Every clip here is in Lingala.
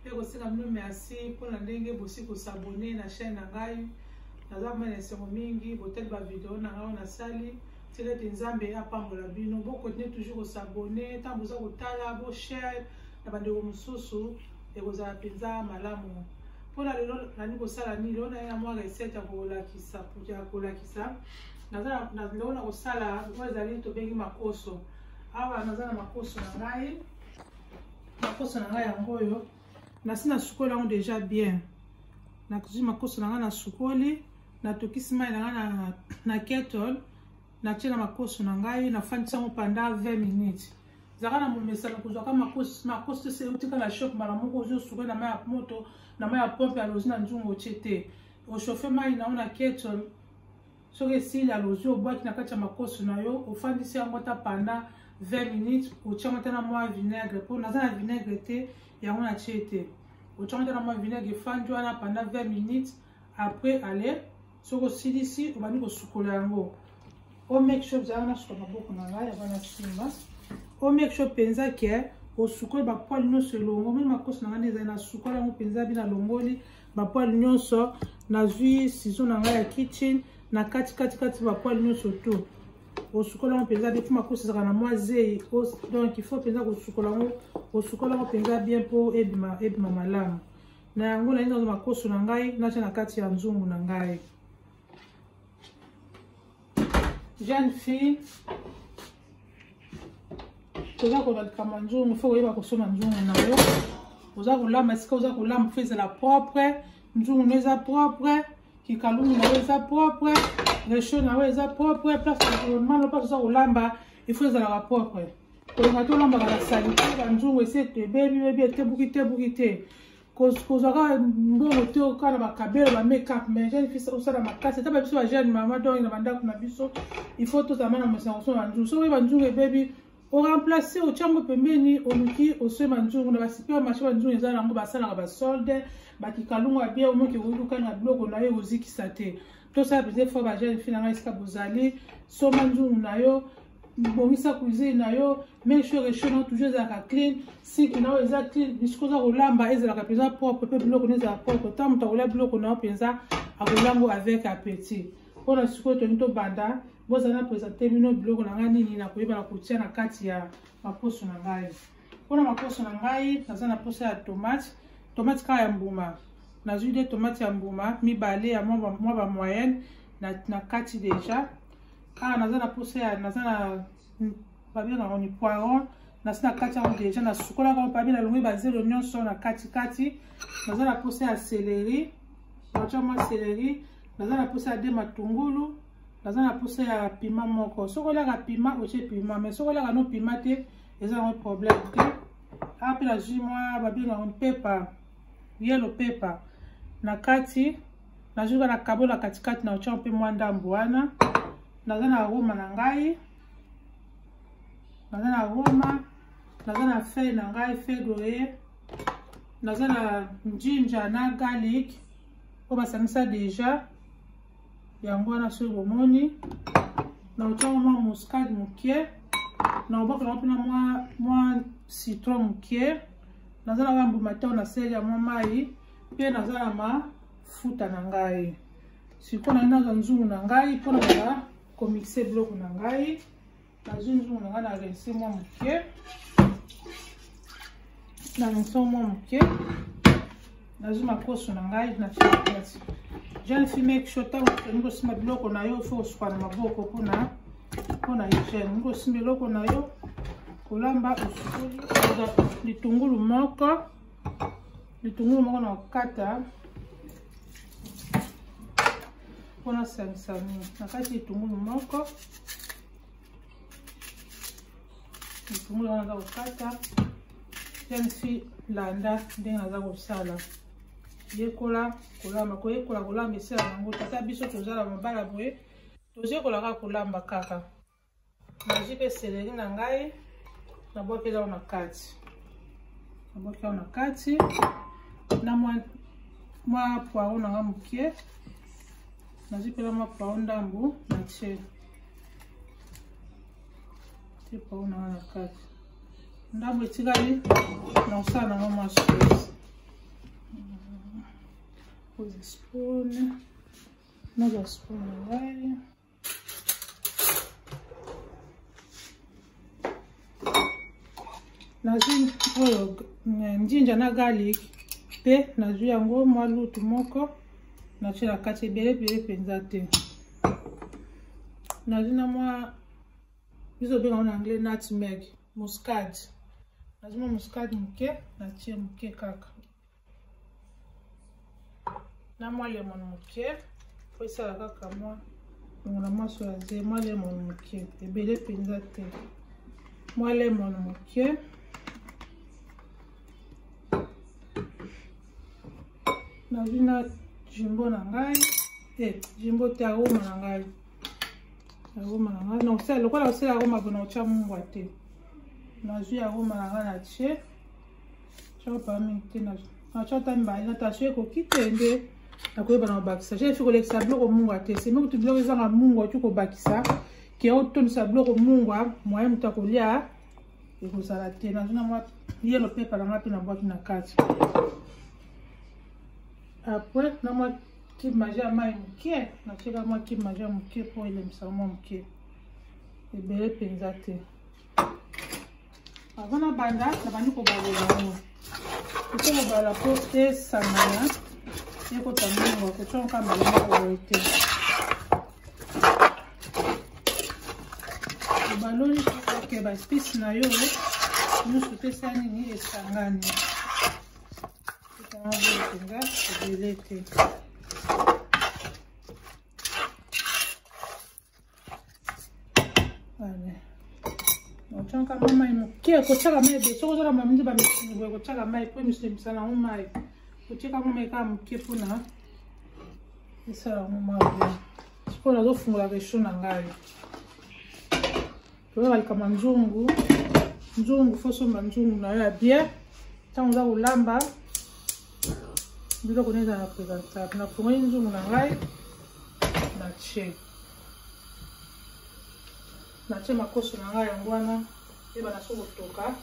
mpe kosenga bino merci mpo na ndenge bosi kosabone na chaîne na ngai naza vraimen na esengo mingi botali bavideo na ngai oyo nasali tika ete nzambe apambola bino bokontinue toujours kosabone ntango boza kotala boshare na bandeko mosusu ekozala mpenza malamu mpo na lelo nani kosala nini lelo naye na mwa recette ya kolakisa ya kolakisa naza lelo na kosala oyo ezali tobengi makoso awa naza na makoso na ngai makoso na ngai yango oyo nasi nasukoli yango deja bien nazwi makoso na ngai nasukoli natokisi mai na ngai na, na kettle natyela makoso na ngai nafandisi yango panda 20 minutes zalaka na momesano kozwaka makoso ese eutika na shop mbala moko ozwi osuka na mai ya moto na mai ya pompe alozi na nzungu otye te ochauffe mai na yo na kettle soki esili alozi obwaki na kati ya makoso na yo ofandisi yango ata panda 20 minutes otyama ata na mwa vinaigre mpo naza na vinaigre te yango natye te otyama ata na mwa vinaigre efandi wana panda 20 minutes après ale soki osilisi obandi kosukola yango o make sure ozalaka nasuka maboko na ngai yaba na nsima o make sure mpenza ke osukoli bapoile nyonso elongo moni makoso na ngai nde ezali nasukoli yango mpenza bino alongoli bapoile nyonso nazwi sizo na ngai ya kitchen na kati kati kati bapoile nyonso tout osukola yango mpenza te fuma kosisaka na mwa zei donc ifo mpenza kosukola yango osukola yango mpenza bien mpo ebima ebima malamu na yango nalingi nazo makoso na ngai natya na kati ya nzungu na ngai jeune fille toza kola likambo ya nzungu fo koyeba kosomba nzungu na yo oza kolamba esika oza kolamba fo ezala propre nzungu no eza propre kikalungu na yo eza propre recho na yo eza propre place mano place oza kolamba ifo ezalaka propre kolonga tolambaka na salite banzungu esi ebebibebi etebukitebuki te kozwa kaka mbongo te kaka na bakabelo ba makeup mais jeune fille osala makasi ata babiso ba jeune mama donc na bandako na biso il faut tozalama na mosango so banzungu soki banzungu ebebi oremplace otya yango pembeni oluki oswe banzungu na basiper marché banzungu eza nango basalaka basolde bakikalungu ya bien omoki ekoki kokanga biloko na yo ekozikisa te tosala bize fo ba jeune fille na ngai esika bozali soma nzungu na yo bongisa cuisine na yo make sure rechaud na toujours ezalaka clean siki na oyo eza clean bisiko oza kolamba ezalaka mpenza propre mpe biloko na ezala propre ntango moto akolia biloko na yo mpenza akolambo avec appetit mpo na sikoyo tolingi tobanda bozala na présente bino biloko na ngai nini nakoyeba na kotia na kati ya maposo na ngai mpo na maposo na ngai naza na posa ya tomate tomate kaka ya mbuma nazwi de tomate ya mbuma mibale ya mwa bamoyenne na kati deja awa naza na posa ya naza na babengaka yango ni poiron nasi na kati yango deja nasukolaka yango pabi nalongwe bazelo nyonso na katikati naza na posa ya seleri natya mwa seleri naza na posa ya de matungulu naza na posa ya pima moko soki olyaka pima otye pima mai soki olyaka no pima te eza yango problème te awa mpe nazwi mwa babengaka mpepa yelo pepa na kati nazuka na kabo na katikati na otya mpe mwa ndambo wana naza na roma na ngai naza na roma naza na feuille na ngai feuille doye naza na ginger na garlic oyo basangisa deja yango wana soki bomoni naotyaka mwa muscade moke naobakolaka mpena mwa citron moke naza na bambuma tao na seli ya mwa mai mpe naza na mafuta na ngai sikoyo naye nazwa nzungu na ngai mpo na bala komixe biloko na ngai nazwi nzungu na ngai na rense mwa moke na rense mwa moke nazwi makoso na ngai na fiakati jeune fille make sure ntango okende kosimba biloko na yo fo osuka na maboko mpona mpona hygiène olingi kosimba eloko na yo kolamba osukoli litungulu moko litungulu moko na kokata mpo nasangisa mingi na kati litungulu moko litungulu wana naza kokata yansi landa ndenge naza kosala yekola kolamba koyekola kolamba esala yango tata biso tozala mabala boye tozekolaka kolamba kaka naji mpe seleri na ngai nabwaki elao na kati nabwaki elao na kati na mwa mwa poiro na ngai moke nazwi mpela mwa poiro ndambo na tie tie poiro na ngai na kati ndambo etikali na kosala nango mwa sauce oza spoon naza spoon na ngai nazwi oyo eh, njinja na garlic mpe nazwi yango mwa lutu moko natye na kati ebele ebele mpenza te nazwi na mwa biso obenga ngo na anglais nutmeg muscade nazwi mwa muscade moke natye moke kaka na mwa lemon moke po esala kaka mwa longola mwa soya ze mwa lemon moke ebele mpenza te mwa lemon moke nazwi na jimbo na ngai te eh, jimbo te aroma na ngai aroma na ngai nakosala lokola kosala aroma mpona kotya mungwa te nazwi aroma na ngai na tie chopami te na achata mbali na tasio ekoki te nde nakoyeba na kobakisa je efi kolekisa biloko mungwa te semi kutu biloko ezanga mungwa oki kobakisa ke otondisa biloko mungwa moye moto akolya ekozala te nazwi na mwa yelo pepa na ngai mpe na bwaki na kati apres na mwa kibe maje ya mai moke natyeka mwa kibe maje ya moke mpo elemisa mwa moke ebele mpenza te avant nabanda nabandi kobalola yango eko kobala mpo esangana ekota mbongo kotya nka mbala moko boye te obaloli oke baspisi na yo nyonso te sa nini esangani ekanga boye mpenza ebele te otyaka mwa mai moke kotyaka mai ebe soki ozala mamindi bamisuni boye kotyaka mai mpo emisuni ebisa nango mai kotyaka mwa mai kaka moke mpona esala yango mwa bien sikoyo nazofungola resho na ngai toyeba likambo ya nzungu nzungu fo somba nzungu na yo ya bien ntango oza kolamba biloko nde eza na présentable nafongoli nzungu na ngai na tie na tie makoso na ngai yango wana yeba na so kotoka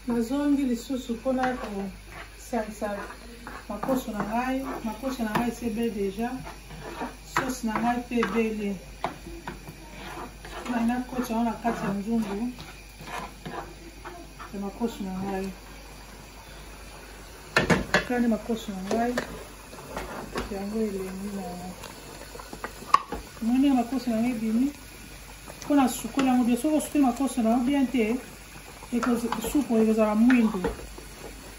nazongi lisusu mpona kosalisa makoso na ngai makoso na ngai sebe deja sosi na ngai mpe ebele ngai nakoti yango na kati ya nzungu ya makoso na ngai kani makoso na ngai yango elengi na yango moni ya makoso na ngai ebimi mpo na sukoli yango bien soki osuki makoso na yo bien te supu ekozala mwindo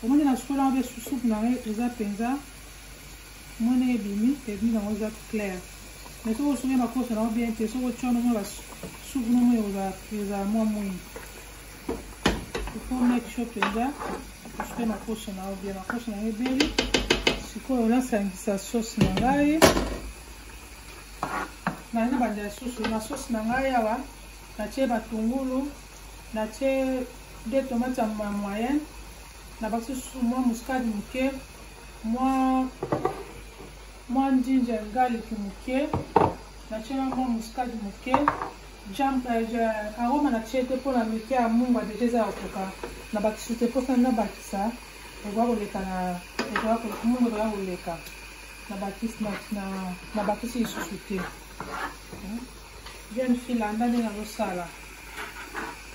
omoni na sukoli yango mpe susupu na ngai eza mpenza mwana ebimi ebimi nango eza claire mais soki osuki makoso na yo bien te soki otya nomoi basupu nomoi ekozala mwa mwindo ifo make sure mpenza osuki makoso na yo bien makoso na yo ebeli sikoyo nasangisa sauce na ngai nalingi banda ya susu na sauce na ngai awa natie batungulu natie de tomate ya moyenne nabakisi susu mwa muskade moke mwa mwa njinja ngaliki moke natie na mwa muskade moke euh, aroma natie te mpo na mike ya mungwa deja eza ya koka nabakisi te mposa nabakisa ekoka koleka na ekoka mungu ekoka koleka nabakisi lisusu te jeune fille landa nde nazosala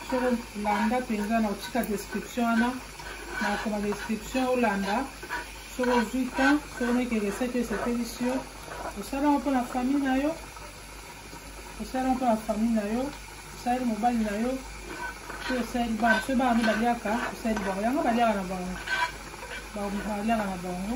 so landa mpenza na otika description wana na okoma description olanda soki ozwi temps soki omeki recette esepelisi yo osalaka mpo na famille na yo osalaka mpo na famille na yo osaleli mobali na yo to osaleli bana soki bana nde baliaka osaleli bango yango baliaka na bango baliaka na bango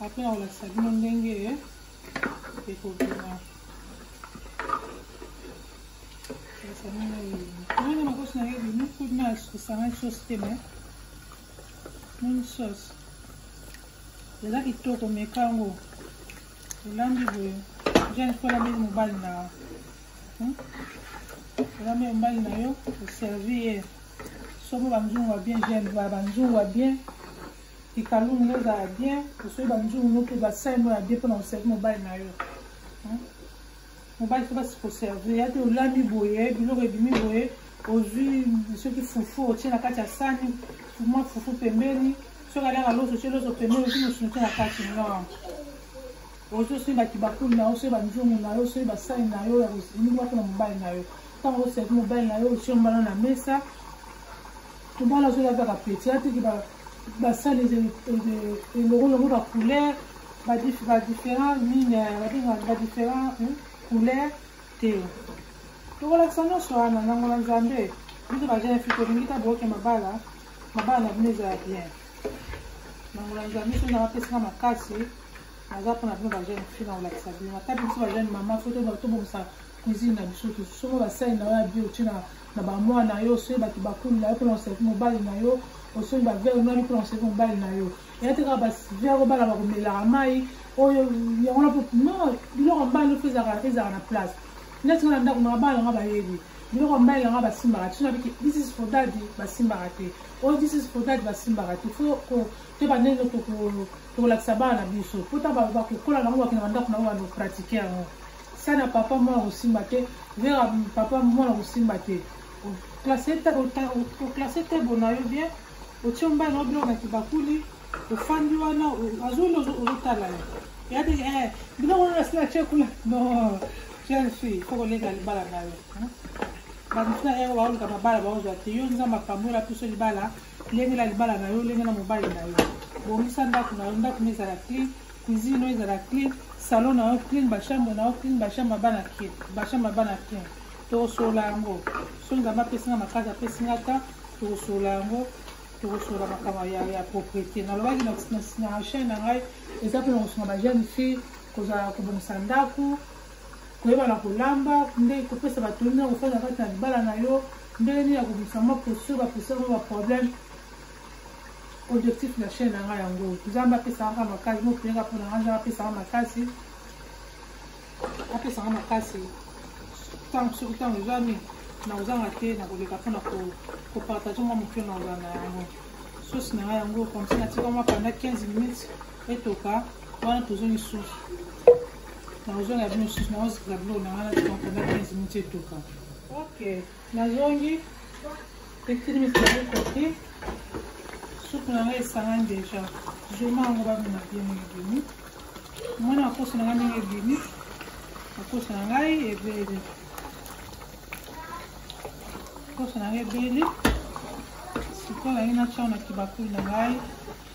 apres na kolakisa bino ndenge ekobima ndenge makosi na ye ebimi kutu na kosangani sosi te me moni sosi eza kitoko meka yango olambi boye jane mpo olambeli mobali na hmm? olambeli mobali na yo oservi ye somo banzungu ya bien jane banzungu ya bien Kikalu mino ezala bien, osoi ba nzungu mino mpe ba sai mino ya bien mpo na koservi mobali na yo. Mobali soki basi koservi, ya te olami boye, biloko ebimi boye, ozwi soki fufu otie na kati ya sani, mwa fufu pembeni, soki aliaka loso otie loso pembeni, ozwi mosuni te na kati non. Ozwi osoi ba kibakuli na yo, osoi ba nzungu na yo, osoi ba sai na yo ya koservi mpo na mobali na yo. Ntango oservi mobali na yo, otie mbano na mesa, Tumbala soki azaka petit atiki ba basali eloko longo ba couleur ba différents mine ba différents hmm, couleur te tokolakisa nyonso wana nango na nzambe biso ba jeune fille tolingi ta boke mabala mabala na bino ezala bien nango na nzambe soki nanga pesaka makasi naza mpona bino ba jeune fille na kolakisa bino natabi biso ba jeune mama fo tobomisa cuisine na biso tosomba basani na yo ya bio otie na bamwana na yo osoyi bato bakulu na yo mpona oservi mobali na yo osoyi bavere nani mpona oservi mobali na yo eya te kaka bavere obana bakomelaka mai oyo yango na non biloko mbali ndoto ezalaka ezalaka na place neti nga na ndako nanga bana nanga bayebi biloko mbali nanga basimbaka te sonabiki this is for daddy basimbaka te oyo oh, this is for daddy basimbaka te fo toyeba ndenge tokolakisa bana na biso mpo ta bakokola nango bakenda bandako nango bano pratike yango Sana papa mwana kosimba te vera papa mwana kosimba te oklase te bona yo bien otio mbai na yo biloko na kibakuli ofandi wana azoli ozotala yo yade eh, biloko wana nasi na tie kuna no jeune fille fo koleka libala na yo bamosu na yango baoluka mabala baozwa te yo nzambe apambola biso libala lengela libala na yo lengela mobali na yo bongisa ndako na yo ndako na ezala clean cuisine na yo ezala clean salon na yo clean bachambre na yo clean bachambre bana clean bachambre bana clean tokosolola yango so nzambe apesinga makasi apesinga ta tokosolola yango tokosolola makambo ya propriété nalobaki na chaine na ngai eza mpe na kosunga bajeune fille kozala kobongisa ndako koyeba na kolamba ndenge kopesa bato ndenge kofanda kati na libala na yo ndenge nini ya kobimisa mwa posture baposture mwa baproblème objectif na chaîne na ngai yango nzambe apesaka makasi mopeleka mpo na ngai nzambe apesaka makasi apesaka makasi ntango soki ntango ezwami na kozanga te na koleka mpo na kopartage mwa moke na kozala na yango sosi na ngai yango komsi natika mwa panda 15 minutes etoka wana tozongi susu nakozonga bino mosusu nakozikla biloko na wana tokankana prince muti etuka ok nazongi ekilimisiai koki supu na ngai esangani deja zoma yango bamina bien ndenge ebimi mwana akoso na ngai ndenge ebimi akoso na ngai ebeli akoso na ngai ebeli sikoyo naye natyango na kibakuli na ngai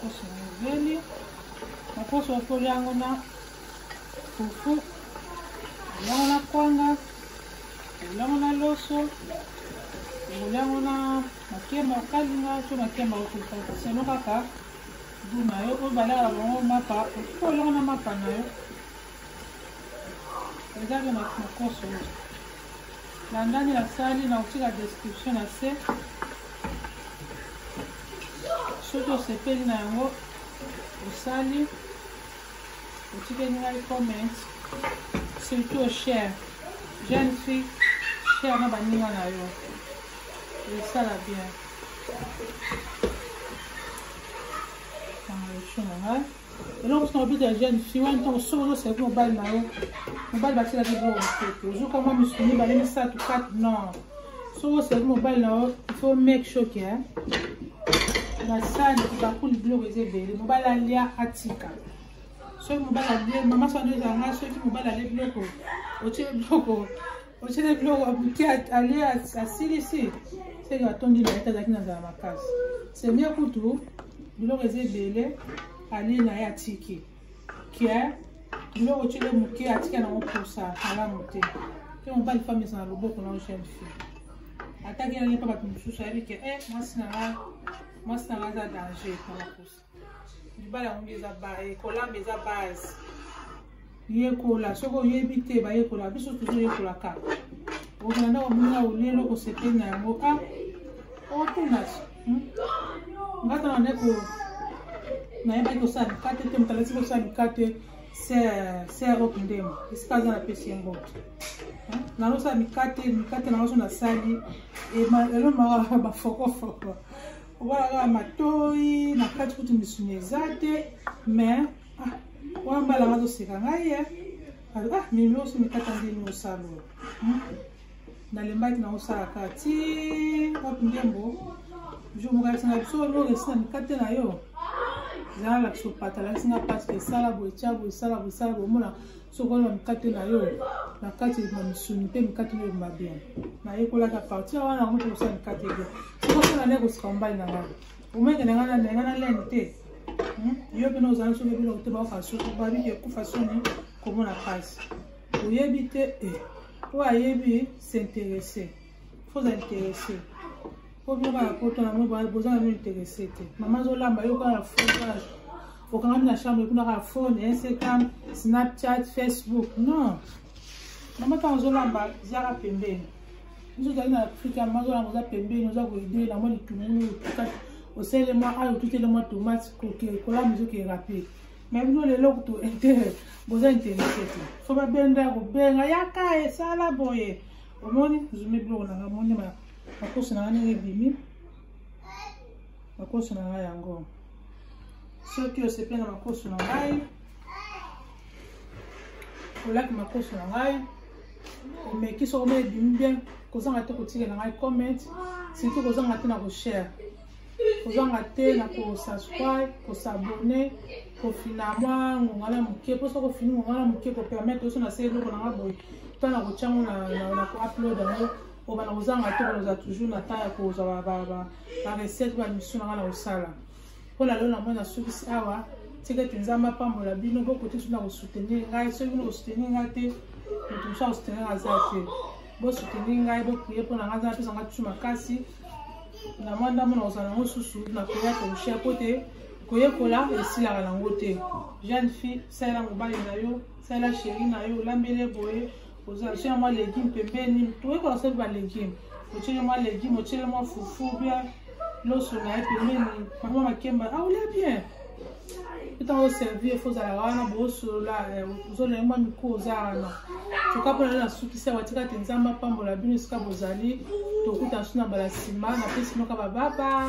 Koso mobeli na koso otoli yango na fufu yango na kwanga yango na loso yango na makemba okalinga to makemba okokaka seno kaka du na yo oyo balaka bango mapa okolongo na mapa na yo eza mpe makoso Na ndani na sali na kotika description na se soki osepeli na yango osali otikeli ngai comment surtout share jeune fille share na baninga na yo esala bien kanga echo na ngai eloko sina obeta ya jeune fille wana ntango soki ozosalaki mobali na yo mobali basilaki biloko mosusu ozuka mwa misusu mibale misato 4 non soki osalaki mobali na yo ifo make sure ke basani bakuli biloko eza ebele mobali alia atika soki mobali alie mama sando ezala ngai soki mobali alie biloko otie biloko osili biloko abuti alie asilisi seke atondi na ye te azalaki na nzala makasi semia kutu biloko eza ebele alie na ye atiki ke biloko otile moke atika nango mposa malamu te ke mobali femme eza na loboko na jeune fille ataki yango mpe bato mosusu ayebi ke e eh, mwasi na nga mwasi na nga aza danger na baposa libala yango eza kolamba eza base yekola soki oyebi te bayekola biso tozoyekolaka okenda ndako mona olelo kosepeli na yango a otuna ngata na ndeko nayebaki kosala mikate te moto alati kosala mikate ser okundema esika aza napesi ye mboto nalosala mikate mikate na baso nasali elomaka bafokofoko owana kaka matoi na kati kutu misuni eza te mais ah, wana mbala nga toseka ngai ye ah, mimi oso mikata ndeni mosalo hmm? nalembaki na osala kaka ti wapi ndembo jour mokalakisa na biso oloresi na mikate na yo zala lakisa opata lakisi nga pasi esala boye tya boye esala boye esala boye omona soki wana mikate na yo na kati na misuni mpe mikate na yo ebima bien nayekolaka partir wana yango mpe kosala mikate bien soki osala nde kosika mobali na ngai omeke na ngai na ngai na lene te hmm? yo mpe na ozali soki ebino te baoka soki babiki ekufa soni komona pasi oyebi te e oyo ayebi s'interesse faut interesse po biloko ya poto yango boza na mino interesse te mama azolamba yo kaka fondage okangami na chambre kuna kaka phone instagram snapchat facebook non mama ntango ozolamba ziaka pembeni biso ozali na afrika mama azolamba oza pembeni oza koide na mwa litungulu otikati osele mwa ayo otutele mwa tomate kolamba ezoki erape mais bino lelo kutu intere boza interesse te fo babenda kobenga yaka esala boye omoni zumi biloko na nga moni makosi na nga ndenge ebimi makosi na nga yango soki osepe na makosi na ngai olaki makosi na ngai omeki soko mona ebimi bien kozanga te kotikela ngai comment surtout kozanga te na koshare kozanga te na kosubscribe kosabone kofina mwa ngonga na moke mposo kofini ngonga na moke kopermettre oso na se eloko nanga boye to na kotya ngo na koupload yango obana kozanga te koloza toujours na temps ya kozwa barecette bamisu nanga na kosala mpo na lelo na moi nasukisi awa tika ete nzambe apambola bino bokoki soki na kosoutenir ngai soki bino kosoutenir ngai te moto mosusu akosoutenir aza te bosoutenir ngai boprie mpo na ngai nzambe apesa ngai tusu makasi na mwa ndambo na kozala yango susu na koya toshia mpo te koyekola esilaka nango te jeune fille salela mobali na yo salela sheri na yo olambele boye ozalisi ya mwa legume pembeni toyekola soki balegume otyele mwa legume otyele mwa fufu bien loso na ye pembeni bango makemba aolia ah, bien ntango oservir fo ozalaka wana boosolola eh, ozona ye mwa mikro oza wana toka mpona na sukisi ya batika te nzambe apambola bino esika bozali tokuta nsu na mbala nsima na pesi noka bababa